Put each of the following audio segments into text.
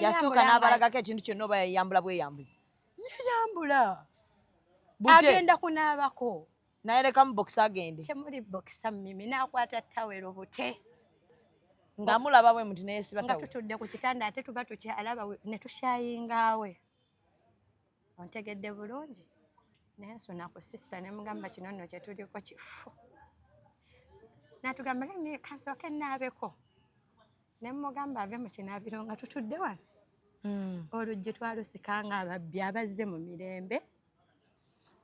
yasooka n'abalagako ekintu kyonna oba yayambula bweyambuzi yayambula agenda kunaabako naye lekamu bokisa agende temuli bokisa mimi nakwata tawero bute nga mulaba bwe muti naye siba nga tutudde ku kitanda ate tuba tukyalaba ne tushayingaawe ontegedde bulungi naye nsuna ku sisita ne mugamba kino nno kye tuliko kifu natugamba lemi kansooke naabeko ne mmugamba ave mu kinaabiro nga tutudde wano hmm. oluggi twalusika nga ababbi abazze mu mirembe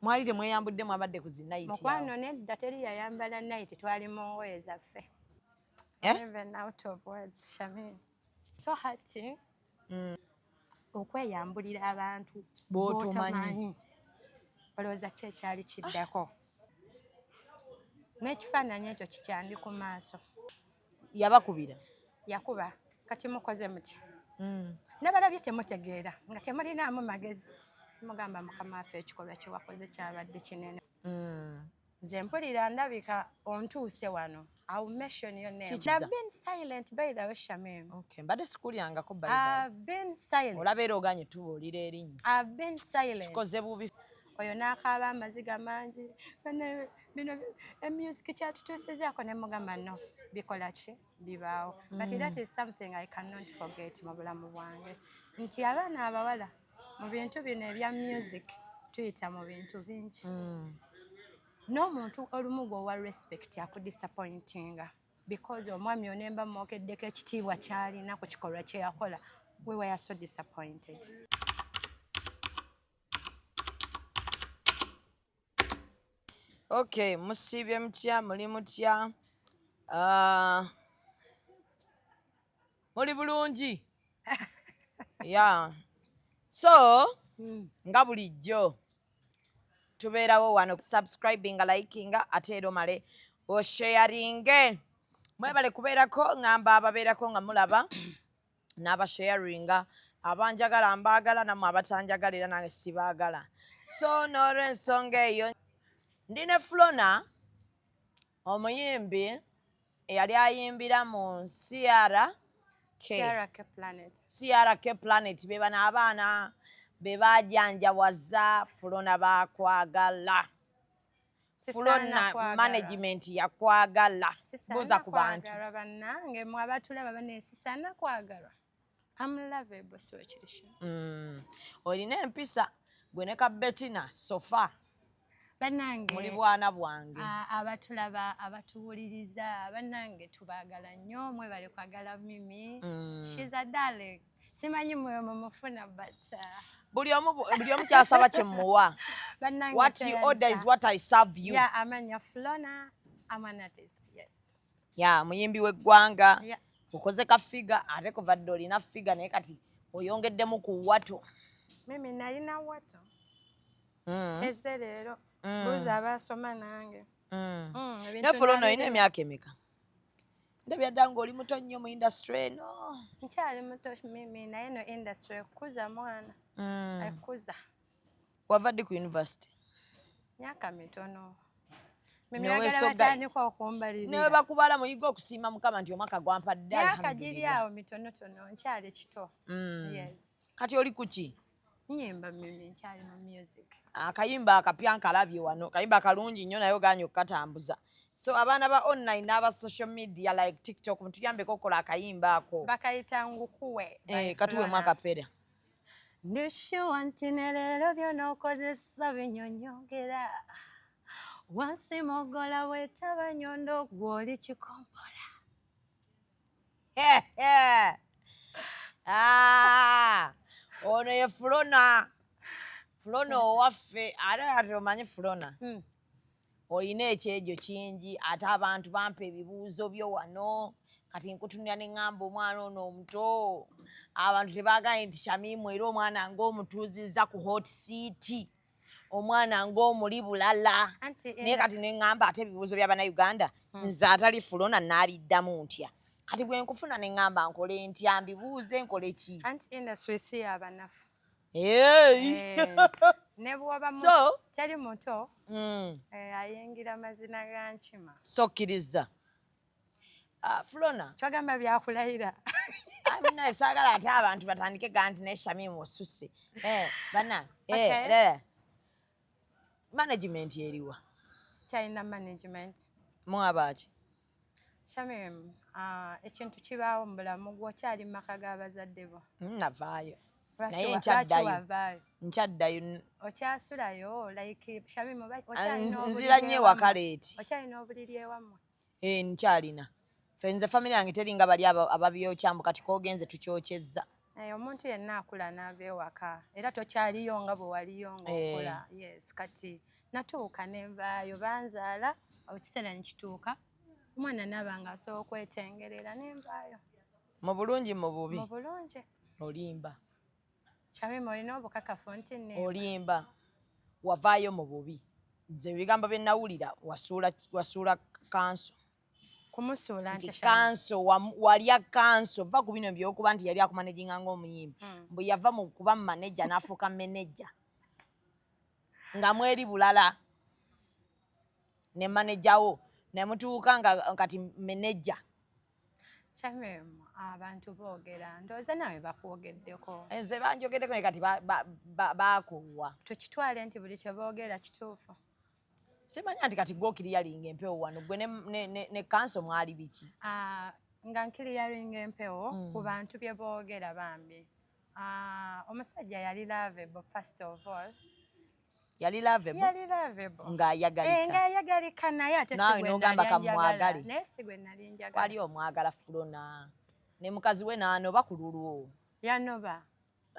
mwali temweyambudde mwabadde ku zinayiti mukwano nedda teri yayambala nayiti twali mu ngoye zaffe eh? so hati hmm. okweyambulira abantu botomanyi olowooza ki ekyali kiddako n'ekifaananyi ekyo kikyandi ku maaso yabakubira yakuba kati mukoze mutya mm. nabalabye temutegeera nga temulinaamu magezi mugamba mukama waffe ekikolwa kyewakoze kyabadde kinene mm. nze mpulira ndabika ontuuse wano I'll mention your name. Chichiza. I've been silent by the way Shamim. Okay, mbade sikuli angako by the way. I've been silent. Olabero ganye tu olire erinyo. I've been silent. Chikoze bubi. oyo n'akaaba amaziga mangi bino emusic kyatutuusizaako ne mugamba no bikola ki bibaawo but mm. that is something i cannot forget mu bulamu bwange nti abaana abawala mu bintu bino ebya music tuyita mu bintu bingi mm. n'omuntu olumu gwe owa respect akudisappointinga because omwami onemba mwogeddeko ekitiibwa kyalina ku kikolwa kyeyakola we were so disappointed Okay, musiibye mutya muli mutya uh, muli bulungi yeah. so mm. nga bulijjo tubeerawo wano kusubscribinga likinga ate era omale osheyaringe mwebale kubeerako ngamba ababeerako nga mulaba n'abasharinga abanjagala mbaagala namwe abatanjagala era nange sibaagala so n'olwensonga eyo ndi ne flona omuyimbi eyali ayimbira mu nsiara siara k planet be bano abaana be bajanjawaza flona bakwagala fulonna management yakwagala buuza ku bantu banange mwe abatulaba banesisana kwagalwa amlavebo siwe kirisho mm. olina empisa gwe ne ka betina sofa banange muli bwana bwange abatulaba abatuwuliriza banange tubagala nnyo mwebale kwagala mimi mm. shiza darling simanyi mwoyo mumufuna but uh, buli omu buli omu kyasaba kyemuwa what you order is what i serve you yeah amanya flona i'm an artist yes yeah muyimbi w'eggwanga yeah. ukoze ka figa ate kuva dde olina figa naye kati oyongeddemu ku wato mimi nalina wato mm. eze leero mm. buuza abaasoma nange mm. mm, naye fulono olina emyaka emeka ndabira ddala ng'oli muto nnyo mu industry eno nkyali muto mimi naye no industry ekukuza mwana mm. ekukuza wava ddi ku university myaka mitono newe bakubala muyiga okusiima mukama nti omwaka gwampadde myaka giri awo mitonotono nkyali kito mm. kati oli kuki nyimba mimi nkyali mu music akayimba ah, akapya nkalabye wano kayimba kalungi nnyo naye oganye okukatambuza so abaana ba online n'aba social media like tiktok mutuyambeko okukola akayimba ako bakayita ngukuwe eh, katuwemu akapera ndishuwa nti ne leero byona okozesa binyonyongera wansi mogola wetaba nyondo gwoli kikompola Ah, ono ye fulona fulona hmm. owaffe ate ati omanyi fulona hmm. olina ekyejo kingi ate abantu bampa ebibuuzo byo wano kati nkutunira ne ŋŋamba omwana ono omuto abantu tebagambye nti shamimu era omwana ngaomutuuzizza ku hot city omwana ng'omuli bulala naye kati neŋŋamba ate ebibuuzo bya bannayuganda hmm. nze atali fulona naaliddamu ntya kati bwe nkufuna neŋŋamba nkole ntya mbibuuze nkole ki anti industry si yabanafu eh. nebwobaso teri muto hmm. eh, ayingira mazina ga nkima sokkiriza Ah, Flona. Kyogamba byakulayira. Amina esagala ate abantu batandike ganti ne Shamim osusse. Eh, bana. Eh, okay. Eh. Management eriwa. Sikyalina management. Mwabaaki? Shamim, uh, ekintu kibaawo mu bulamu gwokyali mu maka g'abazadde bo. Hmm, navaayo. Naye nkyaddayo. Nkyaddayo. Okyasulayo like Shamim okyalina obuliri. Nzira nnyo ewaka leeti. Okyalina obuliri ewammwe. Eh, nkyalina fe nze famire yange teringa bali ababyokya mbu kati kogenze tukyokyezza eh, omuntu yenna akula naava ewaka era tokyaliyo nga bwe waliyo ngaokola eh. yes kati natuuka nenvaayo banzaala ekiseera nekituuka omwana naaba nga asobola okwetengerera nenvaayo mu bulungi mu bubi mu bulungi olimba Shamim olina obukakafu nti nneeba. Olimba wavaayo mu bubi nze ebigambo bye nawulira wasuula wasuula kanso kumusuula nti kanso walya kanso va ku bino byokuba nti yali akumanejinga ng'omuyimbi hmm. mbu yava mu kuba maneja n'afuuka meneja nga mweri bulala ne maneja wo ne mutuuka nga kati meneja Shamim, abantu boogera ndowooza nawe bakwogeddeko nze banjogeddeko naye kati baakoowa tukitwale nti buli kye boogera kituufu simanya nti kati gokiriyalinga empewo wano gwe ne kanso mwali biki ah, nga nkiriyalinga empewo mm. ku bantu bye boogera bambi ah, omusajja yali lavebo first of all yali lovable yali lovable nga ayagalika eh, nga ayagalika naye ate sigwe nawe nogamba kamwagale naye sigwe nali njagala wali omwagala fulona ne mukazi we nano bakululwo yanoba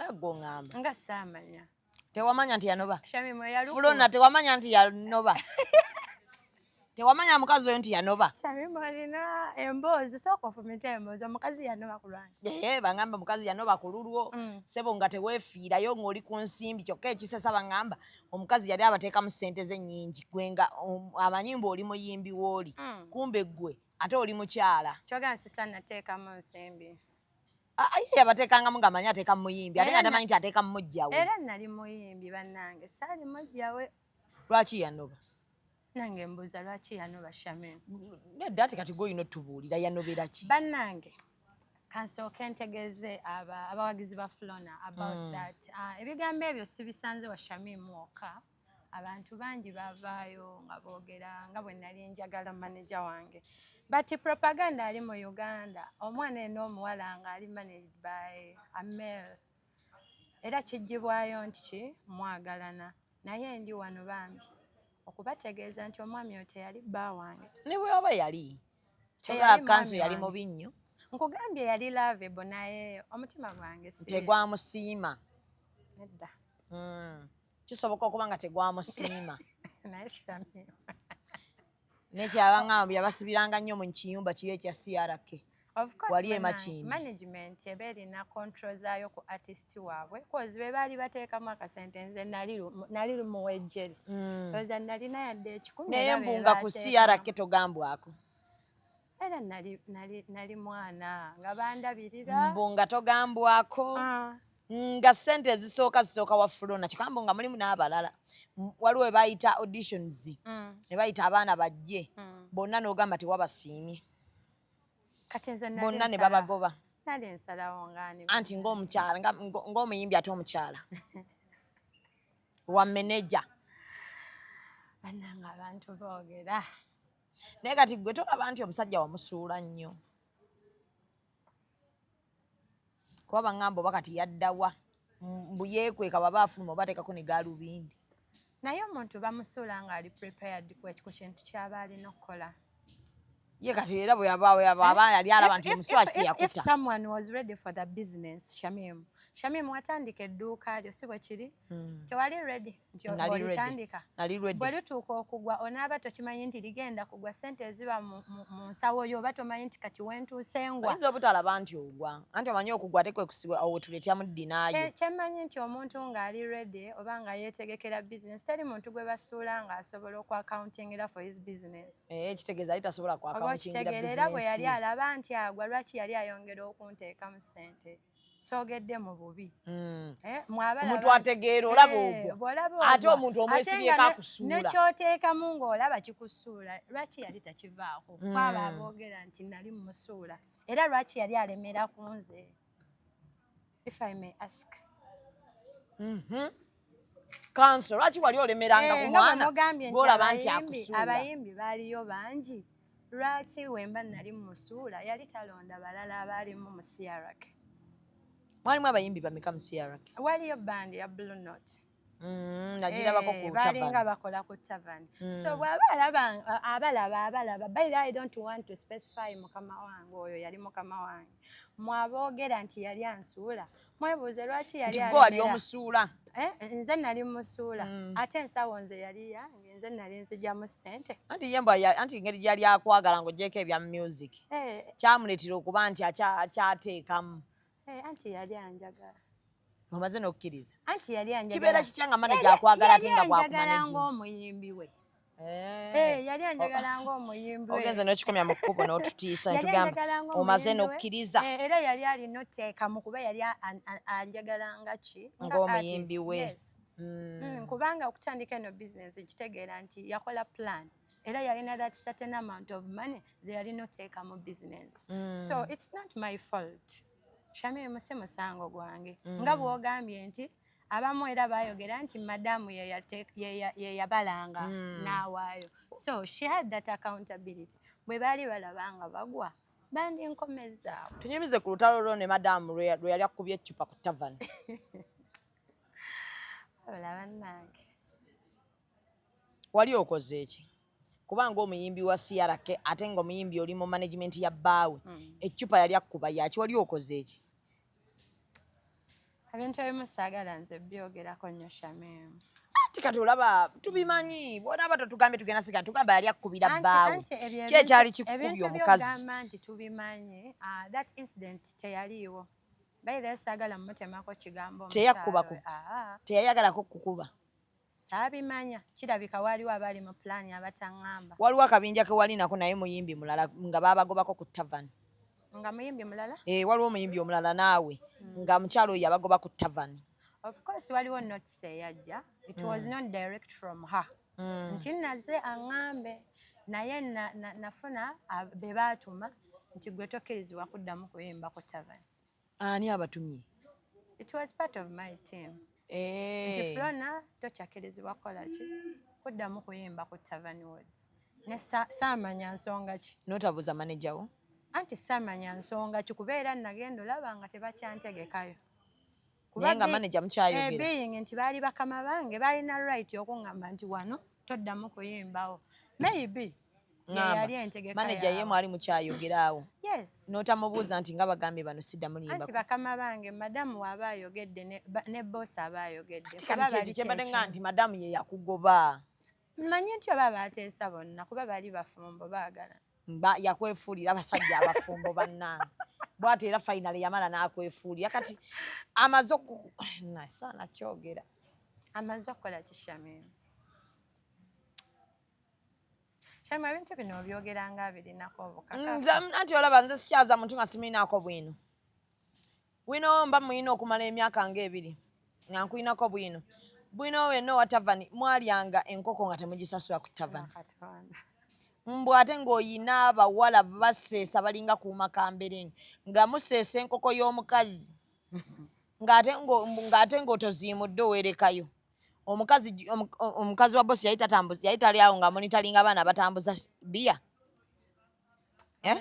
ego ngamba nga samanya tewamanya nti yanoba fulona tewamanya nti yanoba Tewamanya mukazi oyo nti yanoba. Shamim olina emboozi sooka ofumite emboozi omukazi yanoba ku lwange. Ee bangamba mukazi yanoba ku lulwo mm. sebo nga teweefiirayo ng'oli ku nsimbi kyokka ekisesa bangamba omukazi yali abateekamu ssente ze nnyingi gwe nga um, amanyi mbu oli muyimbi w'oli mm. kumbe gwe ate oli mukyala. Kyogera nsisa nateekamu nsimbi. Ah, ah, ye yabateekangamu nga manyi ateeka mu muyimbi ate nga tamanyi nti ateeka mu mujjawe. Era nali muyimbi bannange saali mujjawe. Lwaki yanoba? nange mbuuza lwaki yanoba shamin nedda ati kati goyina otubuulira yanobera ki bannange kansooke ntegeeze abawagizi ba flona about mm. that ah, ebigambo ebyo sibisanze wa shamin mwoka abantu bangi bavaayo nga boogera nga bwe nali njagala maneja wange but propaganda ali mu uganda omwana eno omuwala nga ali managed by amel Era kiggyibwayo nti ki mwagalana. Naye ndi wano bambi okubategeeza nti omwami oyo teyali bba wange. Ne bwe waba yali teyali kanso yali mubi nnyo. Nkugambye yali lovable naye omutima gwange si tegwamusiima. Nedda. Hmm. Kisoboka okuba nga tegwamusiima. Naye kitamiwa. nekyabaŋamba yabasibiranga nnyo mu kiyumba kiri ekya crk wali emakimanagement eba erina control zaayo ku artist waabwe kozi be baali bateekamu akasente nze nali lumuwejjeri mm. oza nalina yadde ekikumi naye mbunga ku crk togambwako era nali nali nali mwana nga bandabirira mbu nga togambwako ah. nga sente ezisooka zisooka wa fulona kikambo nga mulimu n'abalala waliwo ebayita auditions mm. ebayita abaana bajje mm. bonna n'ogamba tewabasiimye bonna ne babagoba anti ngaomukyala ngaomuyimbi ate omukyala wa meneja bananga abantu boogera naye kati gwe tolaba nti omusajja wamusuula nnyo kuba baŋŋamba oba kati yaddawa mbu yeekweka baba afuluma oba ateekako ne gaalubindi naye omuntu bamusuula ng'ali prepared ku kintu kyaba alina okukola ye kati era bwe yabaawo yababa eh, yali alaba nti omusula kiyakuta if someone was ready for the business shamim shamim watandika edduuka lyo si bwe kiri Hmm. tewali redi nti olitandika bwelituuka okugwa onaaba tokimanyi nti ligenda kugwa sente eziba mu nsawo yo oba tomanyi nti kati wentuusengwainza obutalaba nti ogwa anti omanyi okugwa tekwekusiwa awo wetuletyamu ddinaayo kyemmanyi nti omuntu ng'ali redi oba nga yeetegekera bizinesi teri muntu gwe basuula ng'asobola okwakauntingira for his business eh, kitegeeza ali tasobola oba okitegeera era bwe yali alaba nti agwa lwaki yali ayongera okunteekamu sente soogedde mu bubi hmm. eh, omuntu ategeera olaba eh, ogwo ate omuntu omwesibyeko akusuula nekyoteekamu ng'olaba kikusuula lwaki yali takivaako hmm. kwaba aboogera nti nali mumusuula era lwaki yali alemera ku nze if i may ask mm-hmm. kanso lwaki wali olemeranga ku mwana gwolaba nti akusuula abayimbi baaliyo bangi lwaki wemba nali mumusuula yali talonda balala abaalimu mu crk mwalimu abayimbi bameka mu crk waliyo bandi ya blue note Mm, eh, balinga bakola ku tavern mm. so bwaba abalaba abalaba by the i don't want to specify mukama wange oyo yali mukama wange mwaboogera nti yali ansuula mwebuuze lwaki yali nti gwe wali omusuula eh, nze nali musuula mm. ate ensawo nze yali yange nze nali nzijamu sente anti yemba anti ngeri gyali akwagala ngaogyeko ebya music eh. kyamuleetera okuba nti akyateekamu eh, anti yali anjagala omaze nokukkiriza anti yali anjagala kibeera kitya nga manaja akwagala ate nga bwakumanejinga omuyimbi we Eh. Eh, yali anjagala oh. ng'omuyimbi ogenze n'okikomya mu kkubo n'otutiisa ntugamba omaze n'okkiriza eh, era yali alina oteekamu kuba yali anjagala nga ki ng'omuyimbi we hmm. Hmm, kubanga okutandika eno bizinesi nkitegeera nti yakola plan era yalina that certain amount of money ze yalina oteeka mu bizinesi hmm. so it's not my fault shamiri musi musango gwange nga bw'ogambye nti abamu era bayogera nti madamu yeyabalanga hmm. n'awaayo so she had that accountability bwe baali balaba nga bagwa bandinkomezaawo tunyumize ku lutalo lwo ne madamu lwe yali akubye eccupa ku tavani olaba nange wali okoze eki kubanga omuyimbi wa crk ate nga omuyimbi oli mu management ya bbaawe mm. eccupa yali akkuba yaki wali okoze eki ebintu ebimu saagala nze byogerako nnyo shamimu anti kati olaba tubimanyi bwonaba totugambye tugenda siga tugamba yali akkubira bbaawe ki ekyali kikubya omukazigamba nti tubimanyi ah, that incident teyaliiwo bayireyo saagala mumutemako kigambo teyakkubaku ah. teyayagalako kukuba Saabimanya, kirabika waaliwo abaali mu pulaani abataŋŋamba. Waliwo akabinja ke wali nako naye muyimbi mulala nga baabagobako ku tavern. Nga muyimbi mulala? Eh, waliwo omuyimbi omulala naawe hmm. nga mukyalo oyo yabagoba ku tavern. Of course waliwo notes eyajja. It mm. was not direct from her. Mm. Nti naze aŋŋambe naye nafuna na, na be baatuma nti gwe tokkirizibwa kuddamu kuyimba ku tavern. Ani abatumye? It was part of my team. Eh. Nti Flona tokyakirizibwa kukola ki? Kuddamu kuyimba ku Tavern Woods. Ne saamanya nsonga ki? Notabuuza maneja wo? Anti saamanya nsonga ki kuba era nagenda olaba nga tebakyantegekayo. Naye nga maneja mukyayogera. Eh, being nti baali bakama bange balina right okungamba nti wano toddamu kuyimbawo. Maybe. Mm. maneja ye mwali mukyayogera awo n'otamubuuza nti nga bagambye bano sidda mulimbati bakama bange madamu waaba ayogedde ne boosi aba ayogeddekyembadde nga nti madamu ye yakugoba manyi nti oba baateesa bonna kuba bali bafumbo baagala yakwefuulira abasajja abafumbo bannange bwati era fainale yamala n'akwefuulira kati amaze oku nasaana kyogera amaze okukola kishamimu Kyama ebintu bino obyogera nga abirinako obukakafu. Nze anti olaba nze sikyaza muntu nga simulinako bwino. Wino mba muyina okumala emyaka nga ebiri nga nkulinako bwino. Bwino we no watavani mwalyanga enkoko nga temugisasula ku tavani. Mbwa ate ng'oyina abawala baseesa balinga kuuma kamberenge nga museesa enkoko y'omukazi ng'ate ng'otoziimudde owerekayo. omukazi omukazi wa bosi yali tatambuza yali tali awo nga monitoringa abaana batambuza biya eh?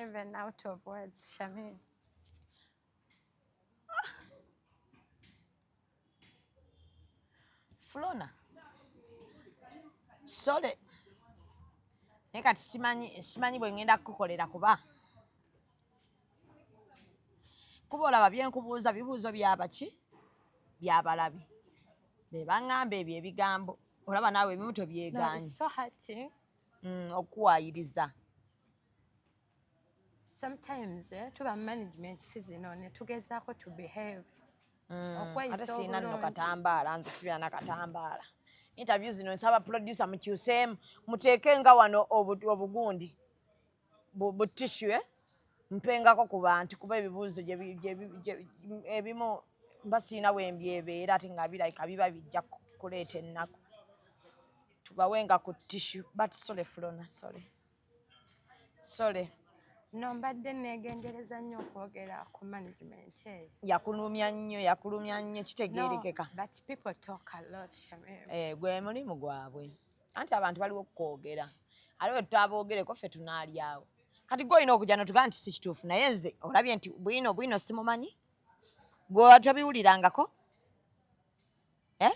Flona sole naye kati simanyi simanyi bwe ngenda kukukolera kuba kuba olaba byenkubuuza bibuuzo byabaki byabalabi bebaŋamba ebyo ebigambo olaba naawe ebimu tobyegaanyi mm, okuwayiriza sometimes eh, tuba management si zino netugezaako to behave mm, ate siina nno katambaala nze sibira na katambaala interview zino nsaba producer mukyuseemu muteeke nga wano obugundi bu tishu eh? mpengako ku bantu kuba ebibuuzo ebimu mba siina wembyebeera ate nga birabika biba bijja kuleeta ennaku tubawenga ku tishu but sole fulona sole sole no mbadde negendereza nnyo okwogera ku management eyo yakulumya nnyo yakulumya nnyo kitegeerekeka but people talk a lot shamim eh, gwe mulimu gwabwe no. anti abantu baliwo kukwogera ate bwe tutabogereko ffe tunaalyawo kati gwe olina okujja notugaa nti si kituufu naye nze olabye nti bwino bwino simumanyi gwe watabiwulirangako e eh?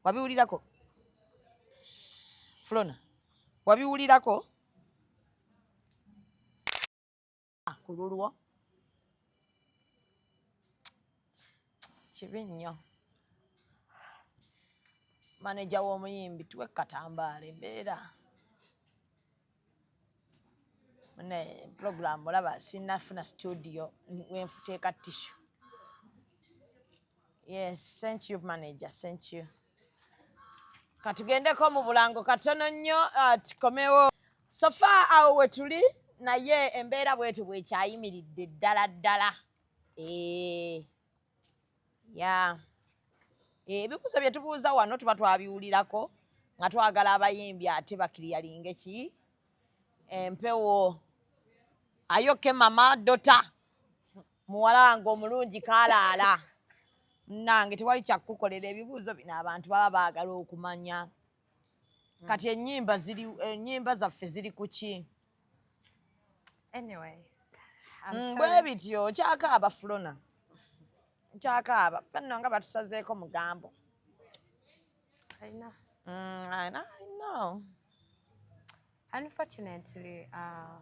wabiwulirako flona wabiwulirako ah, ku lulwo kibi nnyo maneja w'omuyimbi tuwe katambaala embeera ne pulogulaamu olaba sinafuna situdiyo wenfuteeka tishu yes thank you manager thank you katugendeko mu bulango katono nnyo ah, tukomewo sofa awo wetuli naye embeera bwetyo bwekyayimiridde ddala ddala eh, ya eh, ebibuuzo bye tubuuza wano tuba twabiwulirako nga twagala abayimbi ate bakiriyalinge ki empewo ayoke mama dota muwala wange omulungi kalaala nange tewali kyakukukolera ebibuuzo bino abantu baba baagala okumanya mm. kati enyimba ziri enyimba zaffe ziri kuki anyways mm, bwe bityo kyakaaba fulona kyakaaba fenno nga batusazeeko mugambo I know. Mm, I know. I know. Unfortunately, uh,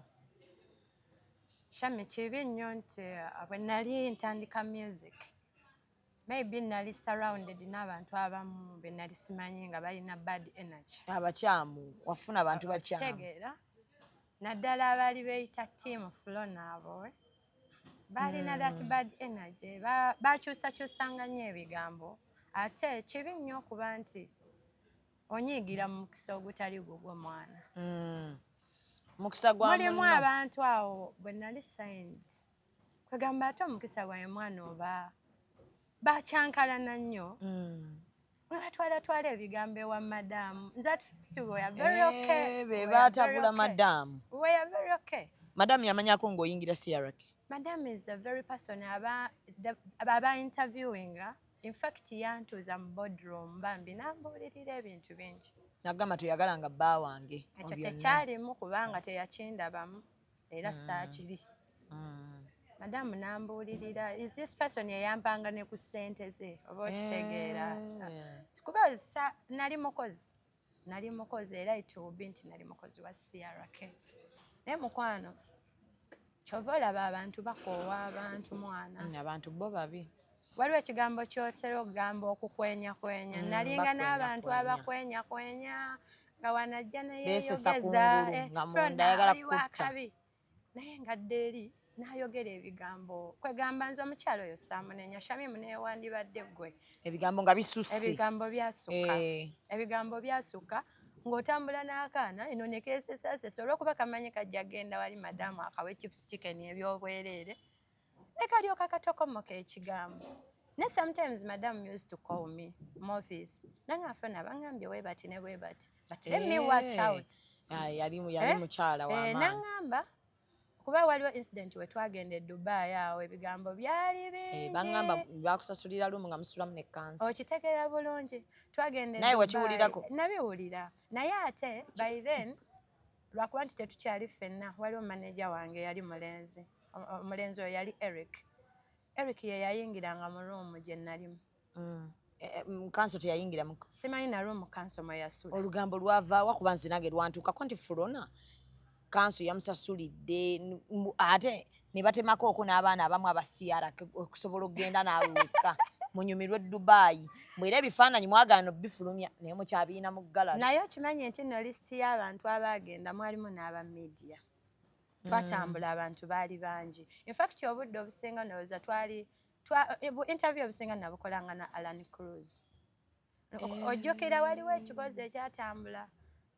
Shami kibi nnyo nti uh, bwe nali ntandika music maybe nali surrounded n'abantu abamu be nali simanyi nga balina bad energy abakyamu wafuna abantu bakyamu kitegeera naddala abaali beeyita tiimu fulo naabo eh? baalina mm. that hmm. bad energy bakyusakyusanga nnyo ebigambo ate kibi nnyo okuba nti onyiigira mu mukisa ogutali gugwo mwana mm. mukisa gwa mulimu abantu awo bwe nali sayinti kwegamba ate omukisa gwaye mwana oba bakyankalana nnyo mm. batwala twala ebigambo ewa madamu nze at first we are very eh, okay hey, be batabula madamu we are very okay madamu yamanyako ng'oyingira crk madamu is the very person aba aba interviewing in fact yantuuza mu boardroom bambi nambuulirira ebintu bingi nagamba toyagala nga bba wange ekyo tekyalimu kubanga teyakindabamu era mm. saakiri mm. madamu nambuulirira is this person eyampanga ne ku ssente ze oba okitegeera eh. kuba nali mukozi nali mukozi era itubi nti nali mukozi wa crk naye mukwano kyova olaba abantu bakoowa abantu mwana mm, abantu bo babi waliwo ekigambo kyotera okugamba okukwenyakwenya mm, nalinga n'abantu abakwenyakwenya nga wanajja neyeyogeza eh, nga munda ayagala kukutta naye nga dda eri nayogera ebigambo kwegamba nze omukyalo oyo saamunenya shamimu newandibadde gwe ebigambo nga bisusse ebigambo byasukka eh. ebigambo byasukka ng'otambula n'akaana eno ne keesesasesa olwokuba kamanyi kajja genda wali madamu akawa echips chicken ebyobwereere ne kalyoka katokomoka ekigambo ne sometimes madam used to call me movis nange afona abangambye webati ne bwebati but let me watch eh. out ah, yali eh? mukyala wa eh, nangamba kuba waliwo incident we twagenda e dubai awo ebigambo byali bingibangamba bakusasulira lumu nga musulamu ne kansi okitegeera bulungi twagenda e naye wakiwulirako nabiwulira naye ate by then lwakuba nti tetukyali ffenna waliwo manaja wange yali mulenzi omulenzi oyo yali eric eric ye yayingiranga mu ruumu gye nalimu mm. e, e, mm, kanso teyayingiramu simanyi na ruumu kanso mwe yasula olugambo lwavaawa kuba nze nange lwantuukako nti fulona kanso yamusasulidde ate ne batemako oko n'abaana abamu abasiyara okusobola okugenda naawe wekka munyumirwe dubayi mwera ebifaananyi mwagaana obifulumya naye mukyabiina mu galala naye okimanyi nti no lisiti y'abantu abaagenda mwalimu n'aba media mm. twatambula abantu baali bangi infact obudde obusinga ndowooza twali eh, interview obusinga nabukolanga na alan cruz eh. ojjukira waliwo ekibozi ekyatambula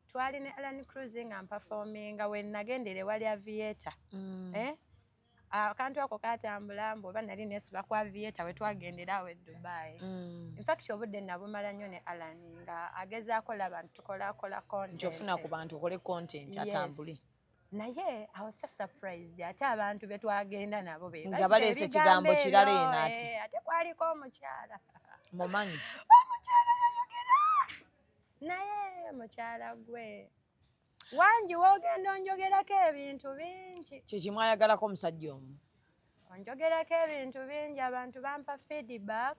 twali ne alan cruz nga mpafominga wenagendere wali avieta mm. eh? akantu ako katambula mbu oba nali nesiba kwa vieta wetwagendera awo edubai mm. infact obudde nabumala nnyo ne alan nga agezaako laba nti tukolakola content ofuna ku bantu okole content atambule naye I was just surprised ate abantu betwagenda nabo be nga baleese ekigambo kirala eno ati eh, ate kwaliko omukyala mumanyi omukyala yayogera naye mukyala gwe wangi wogenda onjogerako ebintu bingi kyekimu ayagalako omusajja omu onjogerako ebintu bingi abantu bampa feedback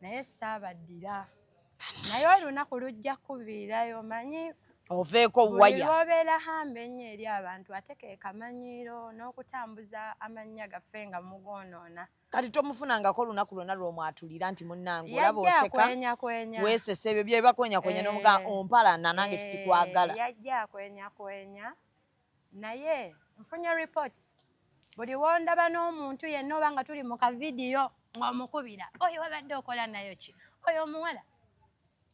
naye saabaddira naye olunaku lujja kuviirayo manyi oveeko waya obeera hamba ennyo eri abantu ate ke kamanyiiro n'okutambuza amannya gaffe nga mugoonoona kati tomufunangako olunaku lwonna lwomwatulira nti munnange olaba oseka weesesa ebyo byebakwenyakwenya eh. nomugaa ompalana nange eh, sikwagala yajja akwenyakwenya naye nfunye reports buli wondaba n'omuntu yenna oba nga tuli mu kavidiyo ng'omukubira oyo wabadde okola nayo ki oyo omuwala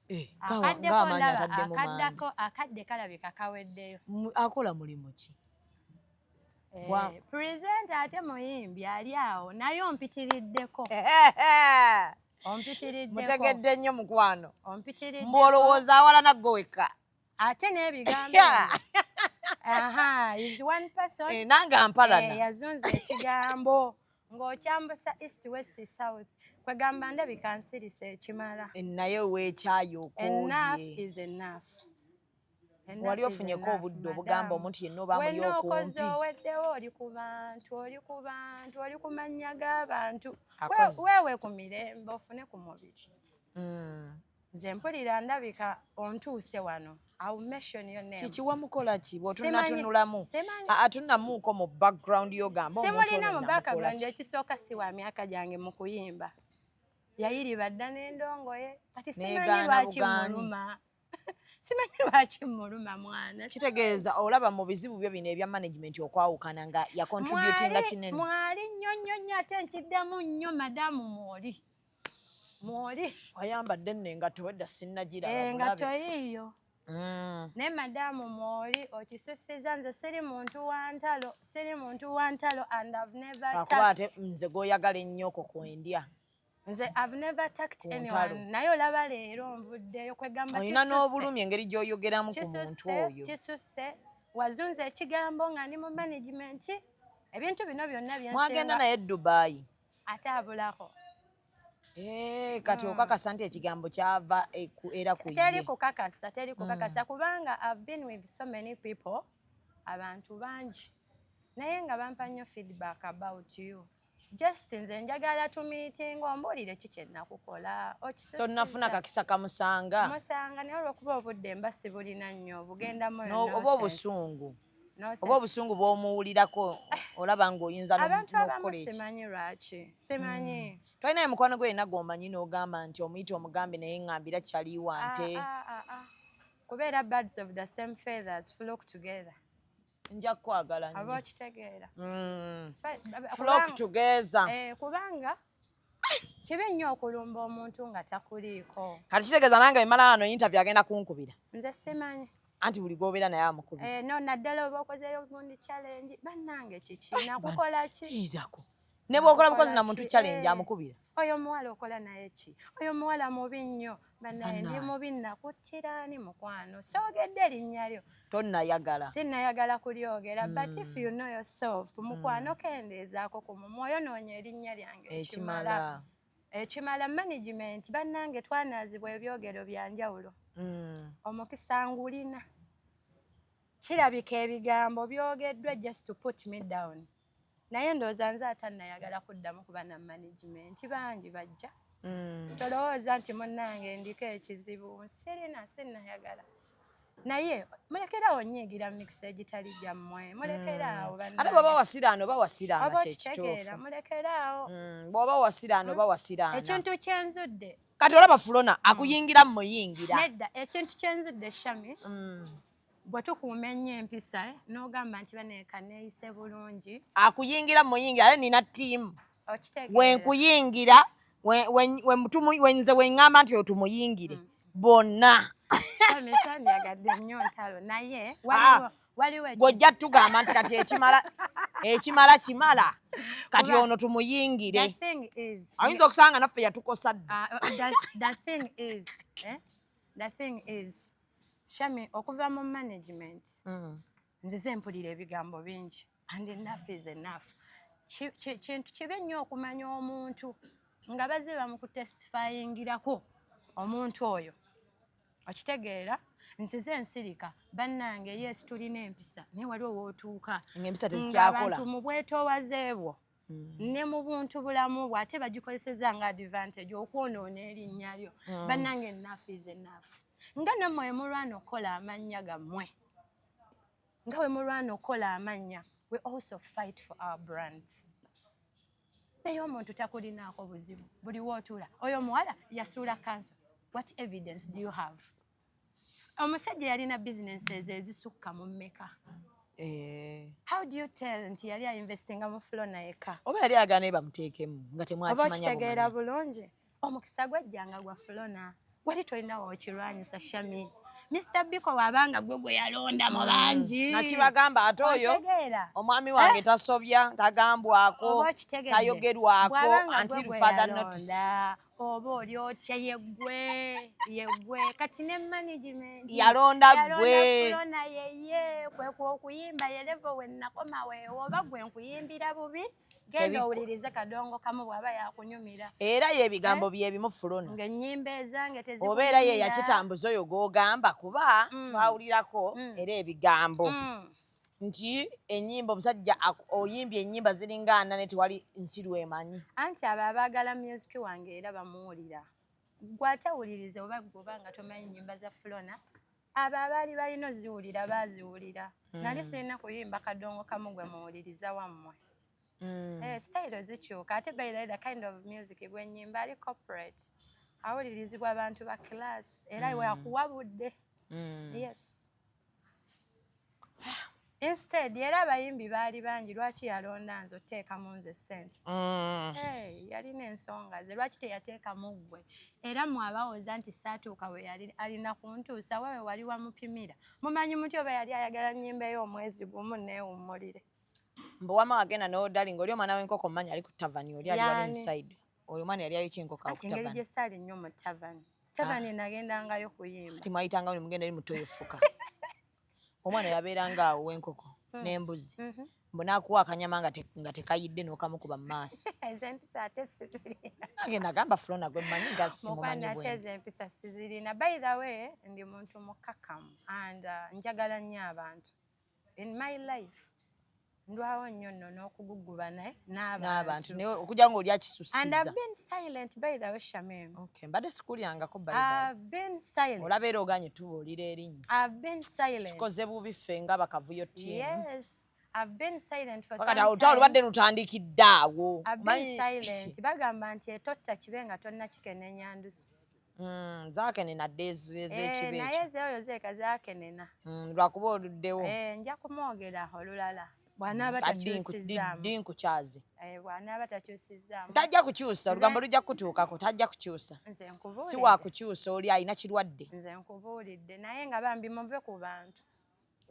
eh, akaddeko ndaba akaddako akadde kalabika kaweddeyo akola mulimu ki Eh, presenter ate muyimbi ali awo naye ompitiriddeko ompitiriddeko mutegedde nnyo mukwano ompitiriddeko mbu olowooza awalana gwe wekka ate n'ebigambo eh, nange ampalana eh, yazunza ekigambo ng'okyambusa east west south kwegamba ndabika nsirisa ekimala eh, naye weekyayi okowali ofunyeko obudde obugamba omuntu yenna oba muli okumpi oweddewo oli ku bantu oli ku bantu oli ku mannya g'abantu weewe ku mirembe ofune ku mubiri mm. nze mpulira ndabika ontuuse wano kikiwa mukola ki bwotunatunulamu atunamuuko mu background yogamba simulina mu background ekisooka si wa myaka gyange mu kuyimba yayiriba dda n'endongoye kati simanyi lwaki muluma simanyi lwaki muluma mwana kitegeeza olaba mu bizibu byo bino ebya management okwawukana nga yacontributinga kinene mwali nnyo nnyo nnyo ate nkiddamu nnyo madamu mwoli mwoli wayambadde nno engatto wedda sinnagiraengatto eh, yiiyo mm. naye madamu mwoli okisusiza nze siri muntu wantalo siri muntu wantalo and ive never akuba ate nze goyagala ennyo okwo kwendya nze ive never tact anyone naye olaba leero nvuddeyo kwegamba olina n'obulumi engeri gy'oyogeramu ku muntu oyo kisusse wazunza ekigambo nga ndi mu management ebintu bino byonna byensmwagenda naye dubayi ate abulako eh, kati okakasa nti ekigambo kyava e, era kuteri kukakasa teri mm. kukakasa kubanga i've been with so many people abantu bangi naye nga bampa nnyo feedback about you just nze njagala tumiitinga ombuulire ki kyenakukola tonnafuna kakisa kamusanga musanga naye olwokuba obudde mba sibulina nnyo bugendamu oba obusungu oba obusungu bwomuwulirako olaba ngaoyinza abantu abamu simanyi lwaki simanyi hmm. tolinayo mukwano gwe yena gwomanyi nogamba nti omuyita omugambe naye ngambira kyaliwa ah, nte ah, ah, kubeera birds of the same feathers flock together nja kukwagala aba okitegeera hmm. flock together eh, kubanga kibi nnyo okulumba omuntu nga takuliiko kati kitegeeza nange emala wano yintavi agenda kunkubira nze simanyi anti buli gwobeera naye amukubi eh, no naddala oba okozeyo gundi challenge bannange kiki nakukola kiirako ne bwokola bukozi na muntu challenge eh, amukubira oyo omuwala okola naye ki oyo omuwala mubi nnyo banaye ndi mubi nakuttira ani mukwano soogedde erinnya lyo tonnayagala sinnayagala kulyogera mm. but if you know yourself hmm. mukwano mm. kendeezaako ku mumwoyo noonya erinnya lyange ekimala ekimala management bannange twanaazibwa ebyogero bya njawulo mm. omukisa ngulina kirabika ebigambo byogeddwa just to put me down naye ndowooza nze atannayagala kuddamu kuba na management bangi bajja mm. tolowooza nti munnange ndiko ekizibu sirina sinnayagala naye mulekerawo nyiigira mikisa egitali gyammwe mulekeraawo mm. ate bwaba wasiraano oba wasiraano kyekitegeera mulekeraawo mm, bwaba wasiraano oba wasiraano ekintu kyenzudde kati olaba fulona akuyingira mumuyingira nedda ekintu kyenzudde shami bwe tukuuma ennyo empisa eh, n'ogamba nti baneeka neeyise bulungi akuyingira muyingira ale nina ttiimu wenkuyingira wenze weŋŋamba nti otumuyingire mm. bonna nyagadde nnyo ntalo naye ah. gwojja tugamba nti kati ekimala ekimala kimala kati ono tumuyingire ayinza okusanga naffe yatukosa dda ah, eh, shami okuva mu management mm. nzize mpulira ebigambo bingi and enough is enough kintu kibi nnyo okumanya omuntu nga baze bamukutestifayingirako omuntu oyo okitegeera nsize ensirika bannange yes tulina empisa naye wali owootuuka ngabantu mu bwetoowaze bwo Mm. ne mu buntu bulamu bwe ate bagikozeseza nga advantage okwonoona erinnya lyo mm. bannange enafu is enafu nga nammwe wemulwana okukola amannya gammwe nga wemulwana okukola amannya we also fight for our brands naye omuntu takulinaako buzibu buli wootula oyo omuwala yasuula kanso what evidence do you have omusajja yalina businesses ezisukka mu mmeka eh. how do you tell nti yali ainvestinga mu flona yekka oba yali agana e bamuteekemu nga temwakimanya okitegeera bulungi omukisa gwajjanga gwa flona wali tolina wokirwanyisa shami Mr. Biko wabanga gwe gwe yalonda mu mm. bangi. Nakibagamba ate oyo omwami wange eh? tasobya tagambwako tayogerwako until father notice. oba oli otya yegwe yegwe kati ne management yalonda gwe yalonda yeye kwe kwokuyimba yelevo wennakoma weewo oba gwe nkuyimbira bubi genda owulirize kadongo kamu bwaba yakunyumira era ye ebigambo eh? byebimu fulona ngaenyimba ezange tezi oba era ye yakitambuza oyo gwogamba kuba mm. twawulirako mm. era ebigambo mm. nti enyimba omusajja oyimbye enyimba ziringa ana ne tewali nsi lwemanyi anti abo abaagala music wange era bamuwulira gwe atawuliriza oba gwoba nga tomanyi nyimba za flona abo abaali balina oziwulira baaziwulira hmm. nali sirina kuyimba kadongo kamu gwe muwuliriza wammwe hmm. eh, sitayiro zikyuka ate by the, the kind of music gwenyimba ali corporate awulirizibwa abantu ba class era mm. wakuwabudde mm. yes instead era abayimbi baali bangi lwaki yalonda nze oteekamu nze sente mm. yalina ensonga ze lwaki teyateekamu ggwe era mwabawoza nti saatuuka we yali alina kuntuusa wewe wali wamupimira mumanyi muti oba yali ayagala nyimbeyo omwezi gumu neewummulire mbu wama wagenda nodali ngaoli omwana wenkoko manya ali ku tavani oli aliwali inside oyo mwana yali ayo kyenko ka kutavani ngeri gyesali nnyo mu tavani tavani ah. nagendangayo kuyimba ti mwayitanga ne mugenda eri muto yefuka omwana yabeeranga awo wenkoko hmm. n'embuzi mhm. mbu nakuwa akanyama nga tekayidde nokamukuba mu maaso nagenda gamba fulona gwe manyi gasimumanyiempisa sizirina by the way ndi muntu mukakamu and uh, njagala nnyo abantu in my life ndwawo nnyo nno n'okugugguba naye n'abantu naye okuja nga oli akisusiza and i've been silent by the way shamim okay mbadde sikulyangako i've been silent olaba era oganye tubuulira erinnya i've been silent tukoze bubi ffe nga bakavuyo tiimu yes I've been silent for some time. Olutalo lubadde lutandikidde awo. I've been silent. Bagamba nti etotta kibe nga tonna kikenenya ndusu. Mm, zakenena dde ezekibe eh, naye ezeoyo zeeka zakenena mm, lwakuba oluddewo eh, nja kumwogera olulala bwanaaba mm, takyusizaamudinkukyaazi eh, bwanaaba takyusizaamu tajja kukyusa olugambo lujja kukutuukako tajja kukyusa nze nkubuulidde si wakukyusa oli alina kirwadde nze nkubuulidde naye nga bambi muve ku bantu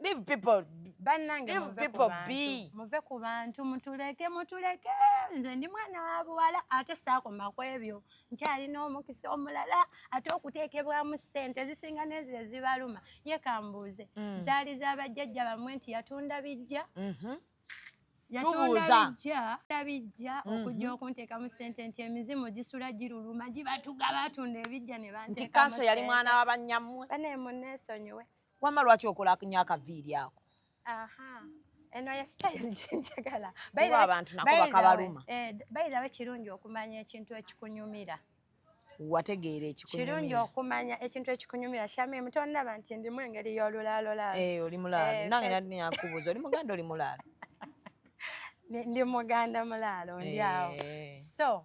Leave people. Bannange Leave muve people ku be. bantu. Muve ku bantu mutuleke mutuleke. Nze ndi mwana wa buwala ate saakoma ku ebyo. Nkyalina omukisa omulala ate okuteekebwamu ssente ezisinga n'ezo ezibaluma. Ye kambuuze Mm. zaali za bajjajja bamwe nti yatunda bijja Mhm. yatunda Tubuuza. bijja yatunda bijja Mhm. okujja okunteekamu ssente nti emizimu gisula giruluma gibatuga batunda ebijja ne Nti banteekamu kanso yali ssente. mwana wa banyammwe. bane muneesonyiwe Wama lwaki okola nyo akaviiri ako? Aha. Eno ya style jinjagala. Bayi abantu nako bakabaluma. Eh, bayi dawe kirungi okumanya ekintu ekikunyumira. Wategeera ekikunyumira. Kirungi okumanya ekintu ekikunyumira. Shami mutonna banti ndi mu engeri y'olulaalo laalo. Eh, oli mulaalo. Eh, Nange nadi nyakubuza oli muganda oli mulaalo. Ndi muganda mulaalo ndi awo. Eh. So,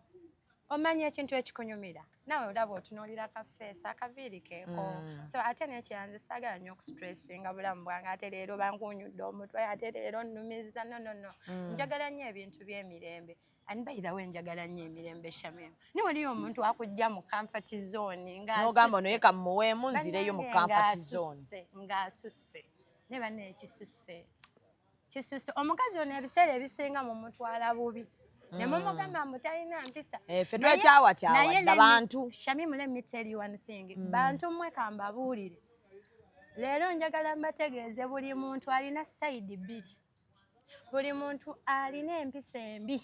omanya ekintu ekikunyumira. nawe olaba otunuulira ka feesi akaviiri keeko mm. so ate nekyanze saagala nnyo okustressinga bulamu bwange ate leero bankunyudde omutwe ate leero nnumiza nonono mm. njagala nnyo ebintu by'emirembe and by the way njagala nnyo emirembe shamim ni waliyo omuntu akujja mu comfort zone ng'nogamba noye kamuweemu nzireyo mu comfort zone ng'asusse ne banne ekisusse kisuse omukazi ono ebiseera ebisinga mumutwala bubi mm. nemumugamba mbu talina mpisa eh, fe twekyawakyawanabantu shamimu let me tell you one thing mm. bantu mwe kambabuulire leero njagala mbategeeze buli muntu alina sayidi bbiri buli muntu alina empisa embi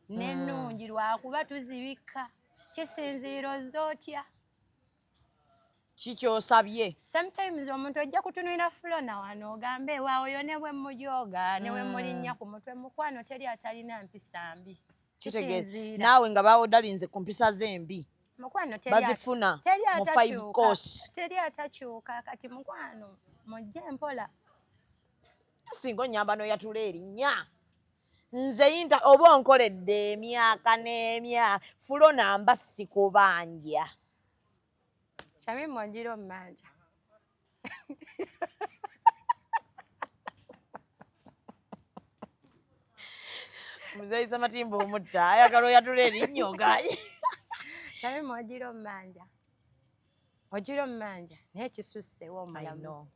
nenungi mm. lwakuba tuzibikka kisinziiro zotya kikyosabye sometimes omuntu ojja kutunulira fulona wano ogambe waawo yo ne bwemujooga ne wemulinnya mm. ku mutwe mukwano teri atalina mpisa mbi kitegeeza naawe nga bawodalinze ku mpisa ze mbi mukwano bazifuna mu five course teri atakyuka kati mukwano mujje mpola singa onyamba noyatula erinnya nze yinta oba onkoledde emyaka n'emyaka fulona mba sikubanja Shamim Mwajiro Mmanja. Mzee Matimbo umutta ayagala oyatula erinnyo gayi. Shamim Mwajiro Mmanja. Mwajiro Mmanja naye kisusse w'omulamuzi.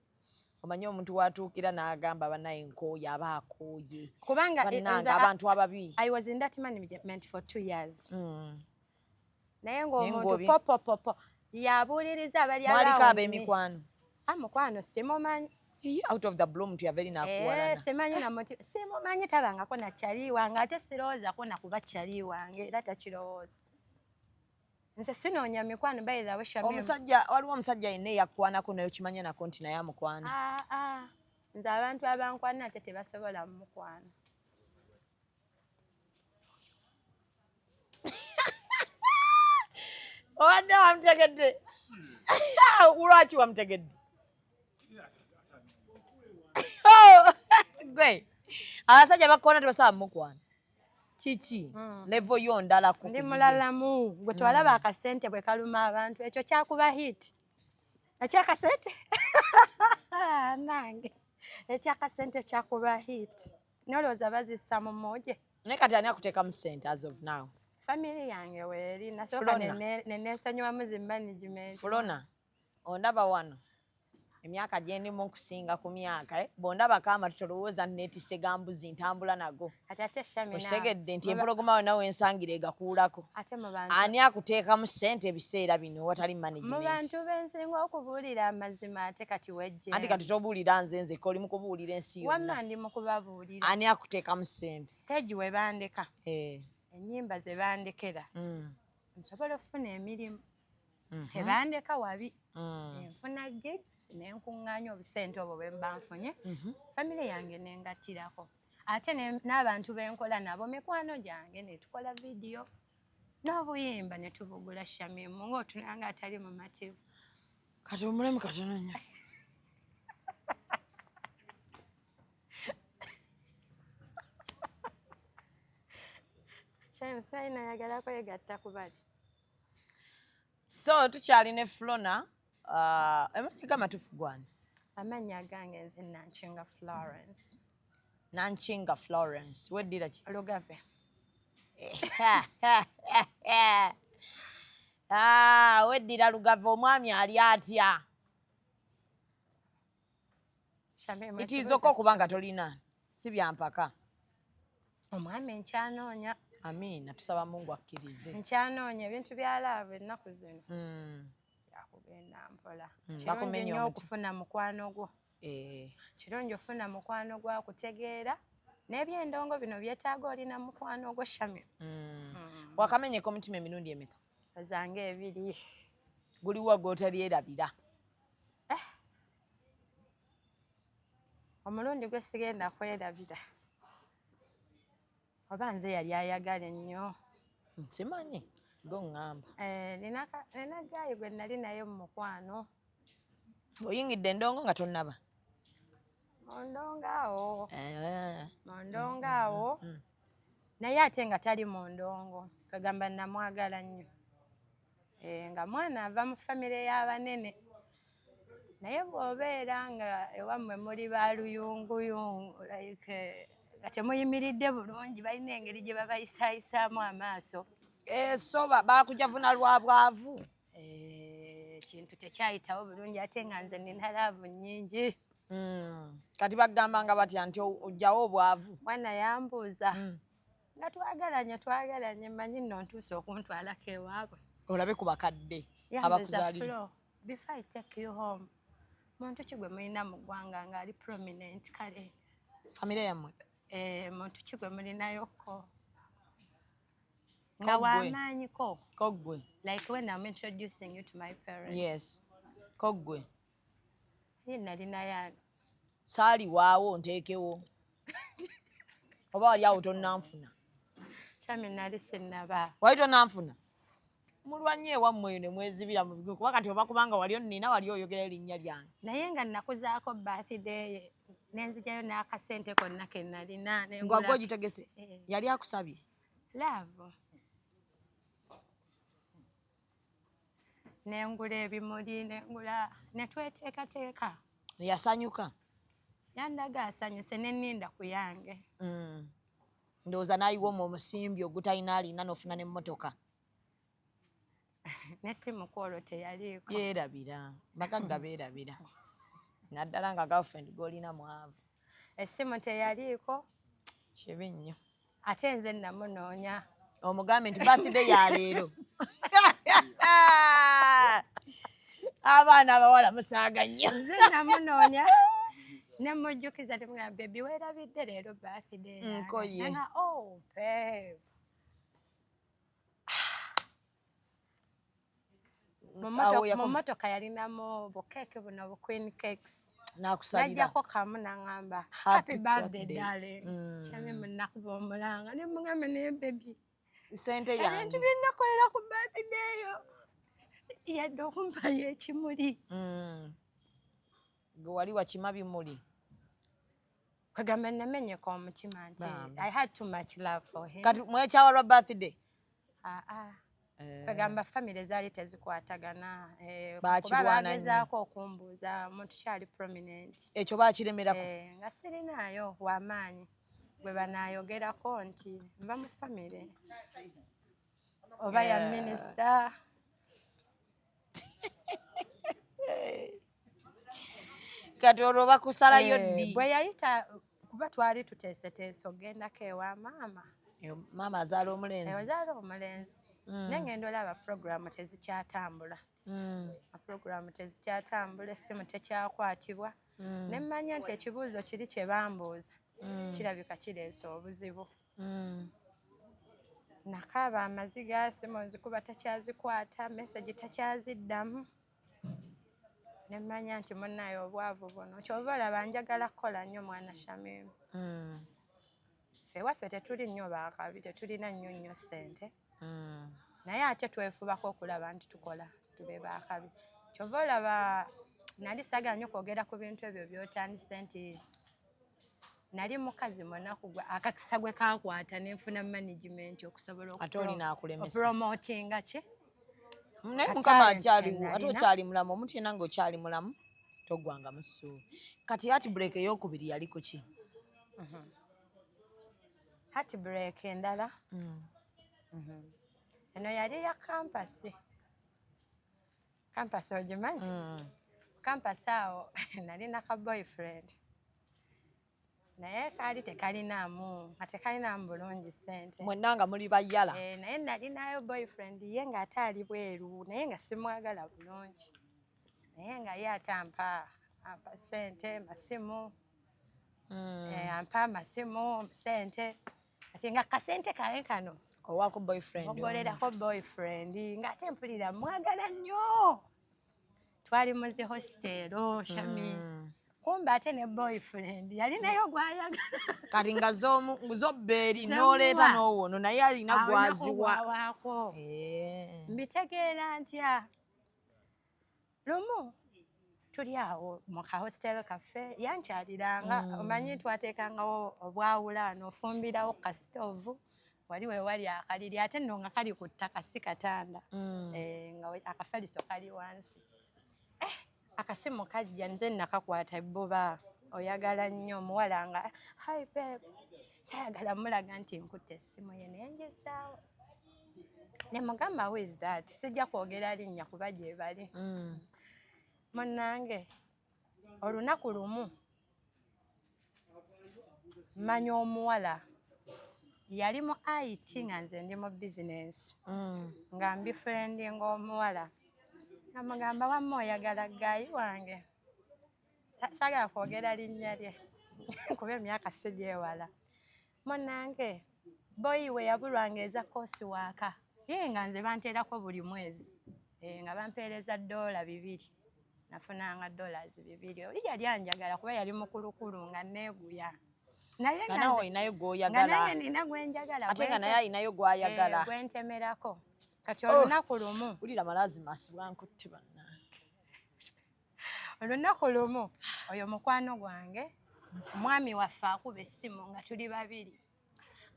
Omanyi omuntu watuukira n'agamba banaye nkooye aba akooye. Kubanga abantu ababi. I was in that management for two years. Mm. naye ng'omuntu popopopo yabuuliriza abalyaliko ab'emikwano a ah, mukwano simumanyi out of the blue mtu ya very nakuwalana eh, simanyi na mtu simumanyi tabangako na chali wange ate sirowooza ko nakuba chali wange era takirowooza nze sinoonya mikwano by the way shamim omusajja waliwo omusajja yenna eyakwanako naye okimanya nako nti naye amukwana ah, ah. nze abantu abankwana ate tebasobola mukwana obadde wamutegedde lwaki wamutegedde oh, gwe abasajja bakukoona tebasobola mukwana kiki hmm. levo yo ndala ku ndi mulalamu gwe twalaba hmm. akasente bwe kaluma abantu ekyo kyakuba hit ekyo akasente nange ekyo akasente kyakuba hit Nolowooza bazissa mu mooje? Naye kati ani akuteekamu ssente as of now? Family yange weeri nasooka neneesonyiwamu zi management. Fulona, ondaba wano emyaka gyendimu nkusinga ku myaka eh? bondaba kama tolowooza netise gambuzi ntambula nago okitegedde nti empologoma we nawe ensangira egakuulako ani akuteekamu ssente ebiseera bino watali managementmubantu bensinga okubuulira amazima ate kati wejje anti kati tobuulira nze nzeka oli mukubuulira ensi script yonna. Wamma ndi mu kubabuulira. Ani akuteekamu ssente? Stage we bandeka. Eh. Ennyimba ze bandekera. Mm. Nsobola okufuna emirimu. Mhm. Tebandeka wabi. Mm. Nfuna gigs ne nkuŋŋaanya obusente obwo bwe mba nfunye. Mhm. Famire yange ne ngattirako. Ate n'abantu be nkola nabo mikwano gyange ne tukola vidiyo n'obuyimba ne tubugula Shamimu ng'otunanga atali mumativu. kati omulemu katono nnyo sayina ayagala kwegatta ku bali so tukyali ne flona uh, emafika amatufu gwani amannya agange nze nankinga florence nankinga florence weddira ki lugave Ah, weddira lugave omwami ali atya itiizokka okuba nga tolina si byampaka omwami enkyanoonya amiina tusaba mungu akkirize nkyanoonya ebintu byalaaba ennaku zino hmm. yakugenda mpola hmm, kirungi nyo okufuna mukwano gwo Eh, kirungi ofuna mukwano gwa kutegeera n'ebyendongo bino byetaaga olina mukwano ogwo shamir mm. mm. wakamenyeka omutima emirundi emeka zange ebiri guliwo gwotalyerabira eh. omulundi gwe sigenda kwerabira oba nze yali ayagala ennyo nkimanyi go ŋŋamba eh, nina gaayi gwe nali naye mu mukwano oyingidde endongo nga tonnaba mundongo awo eh. mundongo awo mm, mm, mm. naye ate nga tali mundongo kagamba namwagala nnyo Eh, nga mwana ava mu famire y'abanene naye bw'obeera nga ewammwe muli ba luyunguyungu like nga temuyimiridde bulungi balina engeri gye babayisayisaamu amaaso esoba eh, bakujavuna lwa bwavu eh, ekintu tekyayitawo bulungi ate nga nze nina laavu nnyingi hmm. kati bagamba nga batya nti ojjawo obwavu mwana yambuuza hmm. nga twagalanye twagalanye manyi nno ntuuse okuntwalako ewaabwe olabe ku bakadde abakuzalira before i take you home muntu ki gwe mulina mu ggwanga ng'ali prominent kale famire yammwe eh, muntu ki gwe mulinayoko nga wamaanyiko kogwe like when am introducing you to my parents yes kogwe Ye nali naye ani? Saali waawo nteekewo. Oba wali awo tonnanfuna. Kyami nali sinnaba. Wali tonnanfuna? mulwanye ewammwe eyo ne mwezibira mu bigo kuba kati oba kubanga wali onnina wali oyogera erinnya lyange naye nga nnakuzaako baathideeye nenzijayo n'akasente konna ke nnalina ngwagwe ogitegese eh. yali akusabye laavu nengula ebimuli nengula netweteekateeka yasanyuka yandaga asanyuse neninda ku yange mm. ndowooza naayiwa omu omusimbi ogutalina alina nofuna nemmotoka nesimu kwolwo teyaliiko yerabira bagagga beerabira naddala nga girlfriend golina mwavu essimu teyaliiko kibi nnyo ate nze namunoonya omugambe nti birthday ya leero abaana abawala musaaga nnyo nze namunoonya nemujjukiza timugamba bebi werabidde leero birthday nkoye oh, mu motoka yalinamu bukeeke buno bu queen cakes najjako kamu naŋamba happy birthday darling mm. kyami munakuba omulanga ne muŋambe naye bebi sente yange ebintu byenakolera ku birthday yo yadde okumpayo ekimuli mm. gwe wali wakima bimuli kwegamba namenyeka omutima nti i had too much love for him kati mwekyawa lwa birthday ah, ah. Eh. kwegamba famire zaali tezikwatagana eh, kuba bagezaako okumbuuza omuntu kyali prominent ekyo bakiremerako eh, nga sirinaayo wamaanyi gwe banayogerako nti nva mu famire oba ya minisita kati olwo bakusalayo eh, ddi bwe yayita kuba twali tuteeseteese ogendako ewa maama maama azaala omulenzi eh, azaala omulenzi mm. naye ngenda olaba puroguramu tezikyatambula mm. puroguramu tezikyatambula essimu tekyakwatibwa mm. ne mmanya nti ekibuuzo kiri kye bambuuza kirabika kireese obuzibu mm. nakaaba amaziga simu nzikuba takyazikwata mesagi takyaziddamu nemanya nti munaye obwavu buno kyova olaba njagala kukola nnyo mwana shamimu mm. fe waffe tetuli nnyo bakabi tetulina nnyo nnyo ssente mm. naye ate twefubako okulaba nti tukola tube bakabi kyova olaba nali sagala nyo kwogera ku bintu ebyo byotandise nti nali mukazi munaku gwe akakisa gwe kakwata nenfuna management okusobola okupromotinga ki naye mukama akyaliwo ate okyali mulamu omuntu yena nga okyali mulamu togwanga musuubi kati ati break eyokubiri yaliko ki mhm. hati break endala mm. mhm. eno yali ya kampasi kampasi ogimanyi mm. kampasi awo nalina ka boyfriend naye kaali tekalinaamu nga tekalinaamu bulungi sente mwenna nga muli bayala eh, naye nalinayo boyfriend ye nga ate ali bweru naye nga simwagala bulungi naye nga ye ate ampa ampa sente masimu mm. eh, ampa amasimu sente ati nga kasente kawe kano owako boyfriend ogolerako boyfriend nga ate mpulira mwagala nnyo twali muzi hostelo oh, shami mm. kumbe ate ne boyfriend yalinayo gwayagala kati nga zobbeeri noleeta nowono naye alina gwaziwa eh. mbitegeera ntya lumu tuli awo mu ka hostel kaffe yankyaliranga mm. omanyi twateekangawo obwawula nofumbirawo ku kasitoovu wali wewali akaliri ate nno nga kali ku ttaka si katanda mm. eh, nga akafaliso kali wansi eh, akasimu kajja nze nakakwata ebbuba oyagala nnyo omuwala nga hi pep sayagala mulaga nti nkutte essimu ye naye ngesaawo ne mugamba who is that sijja kwogera linnya kuba gyebali mm. munange olunaku lumu manya omuwala yali mu it nga nze ndi mu bizinensi mm. nga mbi furendi ngaomuwala namugamba wamma oyagala gaayi wange sagala kwogera linnya lye kuba emyaka sigyewala munange boyi we yabulwanga eza koosi waaka ye nga nze banteerako buli mwezi eh, nga bampeereza doola bibiri nafunanga dollars bibiri oli yali anjagala kuba yali mukulukulu nga neeguya naye olinayo gwoyagalnina gwenjagala ate nga naye alinayo gwayagala eh, gwentemerako kati olunaku oh, lumu wulira malaazi masibwankutte banna olunaku lumu oyo mukwano gwange omwami waffe akuba essimu nga tuli babiri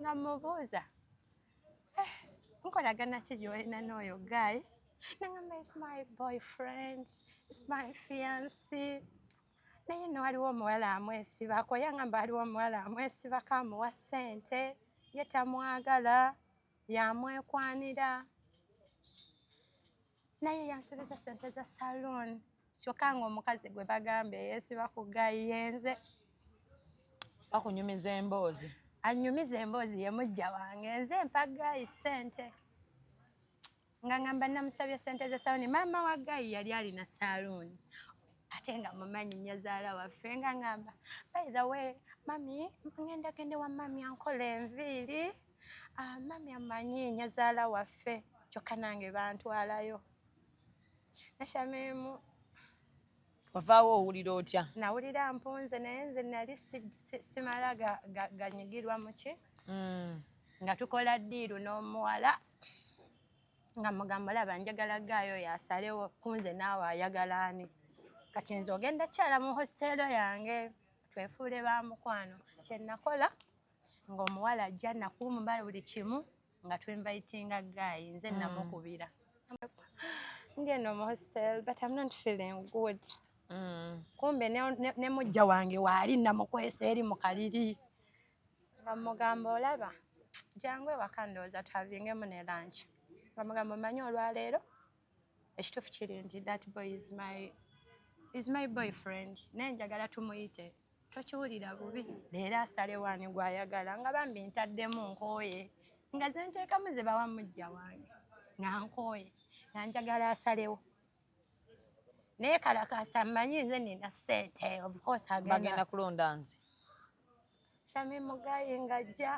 nga mubuuza eh, nkolagana ki gyolina n'oyo guy nangamba is my boyfriend is my fiancy naye no waliwo omuwala amwesibako yangamba waliwo omuwala amwesibako amuwa ssente ye tamwagala yamwekwanira naye yansubiza sente za saloon kyokka nga omukazi gwe bagamba eyesiba ku gayi yenze bakunyumiza emboozi anyumiza emboozi yemujja wange nze mpaga isente nga ngamba namusabye sente ze saluni maama wa gayi yali alina saluni ate nga mumanyi nyazaala waffe nga ngamba by the way mami ngenda gende wa mami ankola enviiri ah, mami amanyi nyazaala waffe kyokka nange bantwalayo nashamimu wavaawo owulira otya nawulira mpunze naye nze nali simala ganyigirwa muki mm. nga tukola ddiiru n'omuwala nga mugamba olaba njagala gaayo yasalewo kunze naawe ayagala ani kati nze ogenda kyala mu hositeero yange twefuule ba mukwano kyenakola ng'omuwala ajja nakuba omubala buli kimu nga twinvitinga gaayi nze mm. namukubira ngeno mu hostel but am not feeling good mm. kumbe ne mujja wange waali namukwesa eri mu kaliri nga mugamba olaba jangu ewaka ndowooza twavingemu ne lanch nga mugamba omanyi olwaleero ekituufu kiri nti that boy is my is my boyfriend naye njagala tumuyite tokiwulira bubi leero asalewo ani gwayagala nga bambi ntaddemu nkooye nga zenteekamu ze bawa mujja wange nga nkooye nga njagala asalewo naye kalakasa mmanyi nze nina ssente ofcourse agenda kulonda nze shami mugayi ngajja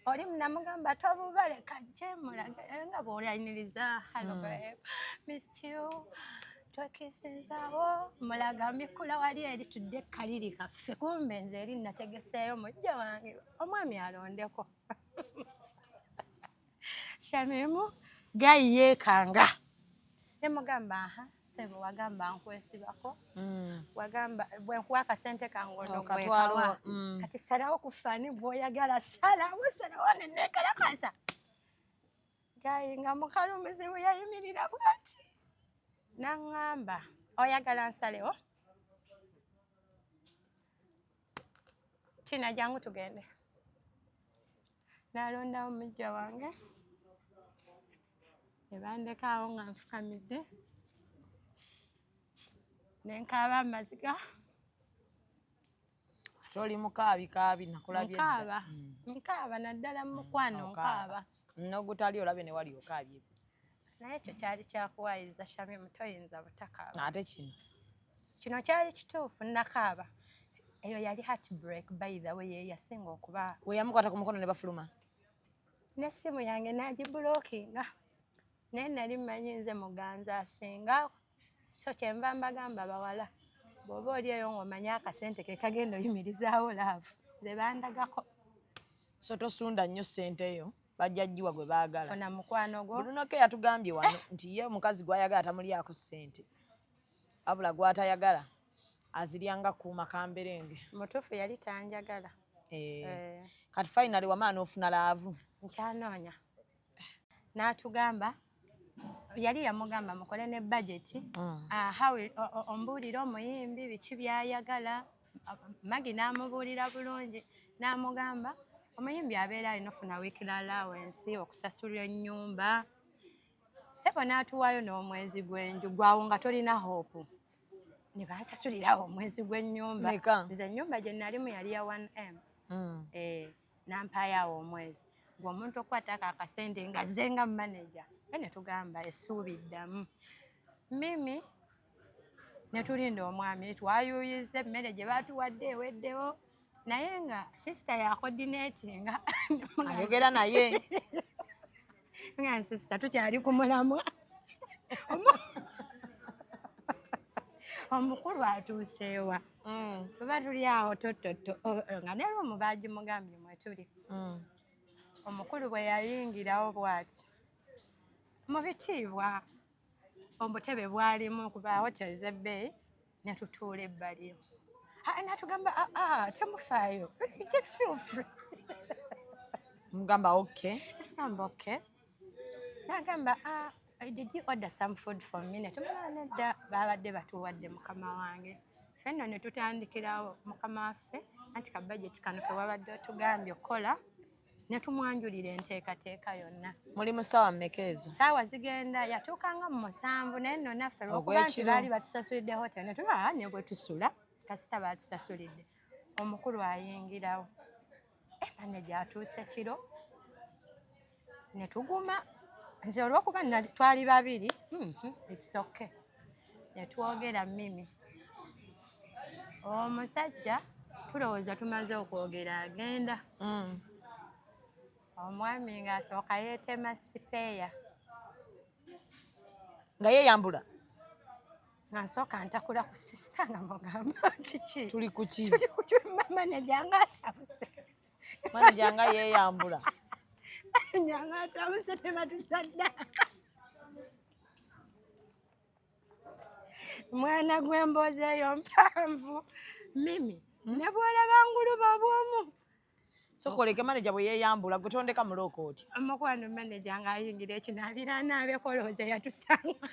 oli munamugamba tobubale kajje mulage eh, nga bwolaniriza hallo mm. babe missed you twekisinzawo mulaga mbikula wali eri tudde kaliri kaffe kumbe nze eri nategeseeyo mujja wange omwami alondeko shamimu gayi yeekanga ne mugamba aha sebo wagamba nkwesibako mm. wagamba bwe nkuwa akasente kange onogwekawa oh, mm. kati salawo ku fani gwoyagala salawo salawo nenekalakasa gayi nga mukalumizi bwe yayimirira bwati naŋŋamba oyagala nsalewo tina jangu tugende nalondawo mujja wange ne bandeka awo nga nfukamidde ne nkaaba amaziga ate oli mukaabi kaabi nakulabye nkaaba mm. nkaaba naddala mu mukwano mm, nkaaba nogutali olabye ne wali okaabye naye ekyo kyali kyakuwayiza shami mutoyinza butakaaba ate kino kino kyali kituufu nakaaba eyo yali heart break by the way yeyasinga okuba weyamukwata ku mukono ne bafuluma n'essimu yange nagibulookinga naye nali mmanyi nze muganza asinga so kyenva mbagamba bawala bw'oba oli eyo ng'omanyi akasente ke kagenda oyimirizaawo laavu nze bandagako so tosunda nnyo ssente yo bajja jjiwa gwe baagala funa mukwano gwo bulunoke yatugambye wano nti ye omukazi gw'ayagala tamulyako ssente abula gw'atayagala azirya nga kuuma kamberenge mutuufu yali tanjagala eh, eh. kati finally wamaa n'ofuna laavu nkyanoonya n'atugamba yali yamugamba mukole ne bajeti mm. ah, ombuulire omuyimbi biki byayagala magi n'amubuulira bulungi n'amugamba omuyimbi abeera alina ofuna weekly allowance okusasulwa ennyumba sebo n'atuwaayo n'omwezi gw'enju gwawo nga tolina hope ne bansasulirawo omwezi gw'ennyumba nze ennyumba gye nalimu yali ya 1m mm. eh, nampaayoawo omwezi gwe omuntu okukwatako akasente nga ze nga manaja e ne tugamba essuubi ddamu mimi netulinda omwami twayuyiza emmere gye baatuwadde eweddewo naye nga sisita yakodineti nga ayogera naye nga sisita tukyali ku mulamwa omukulu atuuseewa mm. tuba tuli awo tototo nga naye omu baagimugambye mwetuli mm. omukulu bwe yayingirawo bwati mu bitiibwa omutebe bwalimu kuba hotels ebbeeyi netutuula ebbali natugamba aa ah, ah, temufaayo just feel free mugamba ok natugamba ok nagamba ah, did you order some food for me netumala nedda babadde batuwadde mukama wange fenno netutandikirawo mukama waffe anti kabajeti kano kewabadde otugambye okukola ne tumwanjulira enteekateeka yonna. Muli mu ssaawa mmeka ezo? Ssaawa zigenda yatuuka nga mu musanvu naye nno naffe lwokuba nti baali batusasulidde hotel ne tuba ah, ne bwe tusula kasita baatusasulidde omukulu ayingirawo emane eh, gyatuuse kiro ne tuguma nze olwokuba twali babiri hmm, hmm, it's okay netwogera mimi omusajja tulowooza tumaze okwogera agenda mm. omwami ngaasooka yeetema sipeeya nga yeeyambula ngansooka ntakula ku sisita nga mugamba kiki tuli kuki tuli kuki mama nejanga atabuse Manager nga yeeyambula. Nyanga atabuse tebatusadda. Mwana gw'emboozi eyo mpanvu. Mimi, hmm? ne bw'olaba nguluba bw'omu. Sokoleke manager bwe yeeyambula gutondeka mulooko otya? Omukwano manager ng'ayingira ekinaabira anaabekolooza yatusanga.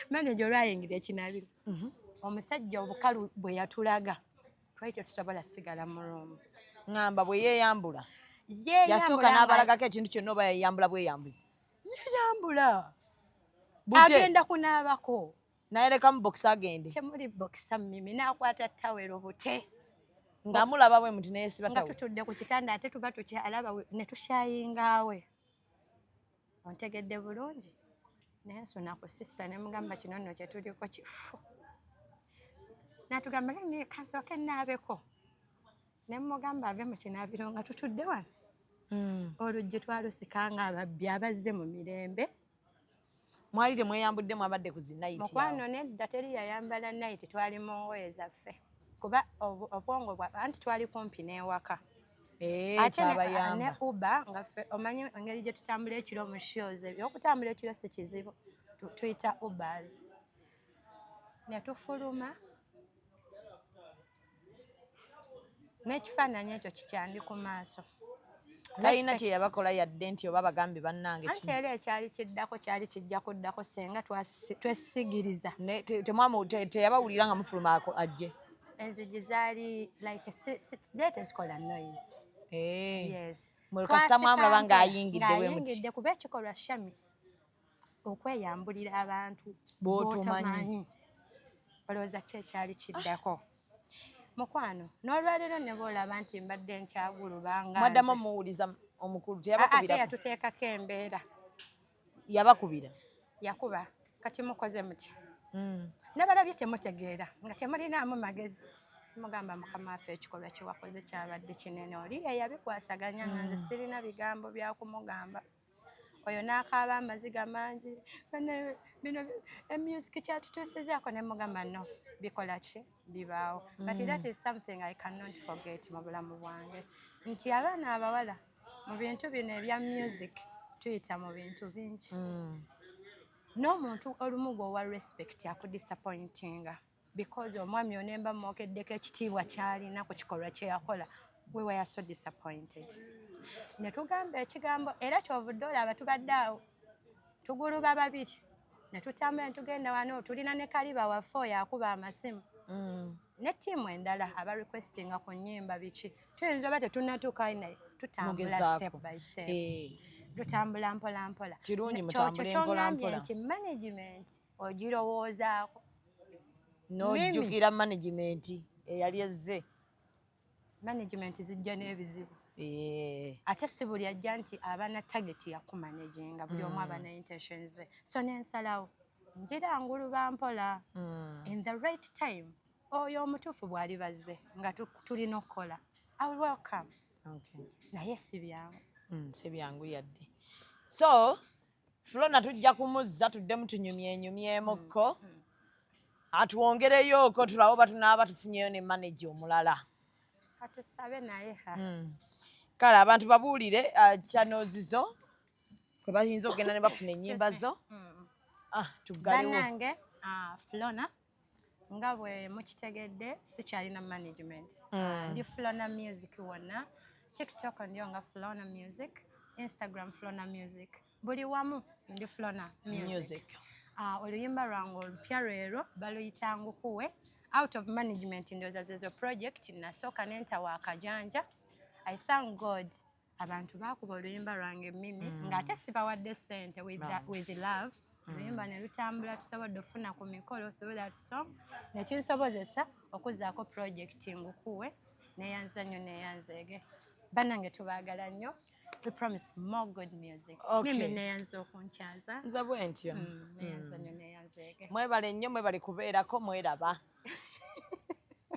Manager olwayingira ekinaabiro. Mhm. Omusajja obukalu bwe yatulaga. twali tetusobola sigala mu room ngamba bwe yeeyambula yasooka n'abalagako ekintu kyonna oba yayambula bweyambuzi yeyambula agenda kunaabako naye lekamu bokisa agende temuli bokisa mimi nakwata tawero bute nga mulaba bwe muti neyesiba nga tutudde ku kitanda ate tuba tukyalaba ne tushayingaawe ontegedde bulungi naye nsuna ku sisita ne mugamba kino nno kye tuliko kifu natugamba lemi kasooke naabeko ne mugamba ave mu kinaabiro nga tutudde wano hmm. oluggi twalusika nga ababbi abazze mu mirembe mwali temweyambudde mwabadde ku zinaiti mukwano nedda teri yayambala naiti twali mu ngoye zaffe kuba obwongo bwa anti twali kumpi n'ewaka Eh, ate ne uba nga ffe omanyi engeri gye tutambula ekiro mu shows ebyo okutambula ekiro si kizibu tuyita ubers ne tufuluma n'ekifaananyi ekyo kikyandi ku maaso talina kye yabakola yadde nti oba bagambe bannange anti era ekyali kiddako kyali kijja kuddako senga twesigiriza teyabawulira nga mufuluma ajje enzigi zaali like zali tezikola noise eh. yes mulukasita mwamulaba ng'ayingidde bwemuyingidde kuba ekikolwa shami okweyambulira abantu botomanyi olowooza ki ekyali kiddako mukwano n'olwaleero ne boolaba nti mbadde nkyagulubanga mwaddamu omuwuliza omukulu teyabakubira ate yatuteekako embeera yabakubira yakuba kati mukoze mutya hmm. nabalabye temutegeera nga temulinaamu magezi mugamba mukama waffe ekikolwa kyewakoze kyabadde kinene oli eyabikwasaganya nga nze hmm. sirina bigambo byakumugamba oyo n'akaaba amaziga mangi bino emusic kyatutuusizaako ne mugamba no bikola ki bibaawo but that mm. is something i cannot forget mu bulamu bwange nti abaana abawala mu bintu bino ebya music tuyita mu bintu bingi mm. n'omuntu olumu gweowa respect akudisappointinga because omwami onemba mwokeddeko ekitiibwa kyalina ku kikolwa kyeyakola we were so disappointed ne tugamba ekigambo era kyovudde olaba tubadde awo tuguluba babiri ne tutambula ne tugenda wano tulina ne kaliba waffe oyo akuba amasimu mm. ne tiimu endala aba requestinga ku nyimba biki tuyinza oba tetunatuuka naye tutambula step by step eh. tutambula mpola mpola kirungi mutambule mpola mpola nti management ogirowoozaako nojjukira management eyali ezze management zijja n'ebizibu eh. ate si buli ajja nti abana target yakumanaginga buli omu mm. abana intention ze so nensalawo njira nguluba mpola mm. in the right time oyo omutuufu bwali bazze nga tulina okukola iwl welcome naye si byangu mm, si byangu yadde so Flona tujja kumuzza tuddemu tunyumyenyumyemuko mm, mm. atwongereyooko tulabe oba tunaaba tufunyeyo ne maneja omulala katusabe naye ha mm. kale abantu babuulire uh, kyanozizo kwe bayinza okugenda ne bafuna ennyimba zo ah, tugalewo banange ah, Flona nga bwe mukitegedde sikyalina management mm. ah, ndi flona music wonna tiktok ndiyo nga flona music instagram flona music buli wamu ndi flona music ah, oluyimba lwange olupya lwero baluyita ngukuwe out of management ndooza zezo project nasooka nentawa akajanja i thank god abantu baakuba oluyimba lwange mimi mm. ng'ate sibawadde sente with, no. with love mm. oluyimba ne lutambula tusobodde okufuna ku mikolo through that song nekinsobozesa okuzaako project ngukuwe neyanza nnyo neyanzeege banange tubaagala nnyo we promise more good music okay. mimi neyanza okunkyaza nze bwentyo mm, neyanza nnyo mm. neyanzeege mwebale nnyo mwebale kubeerako mweraba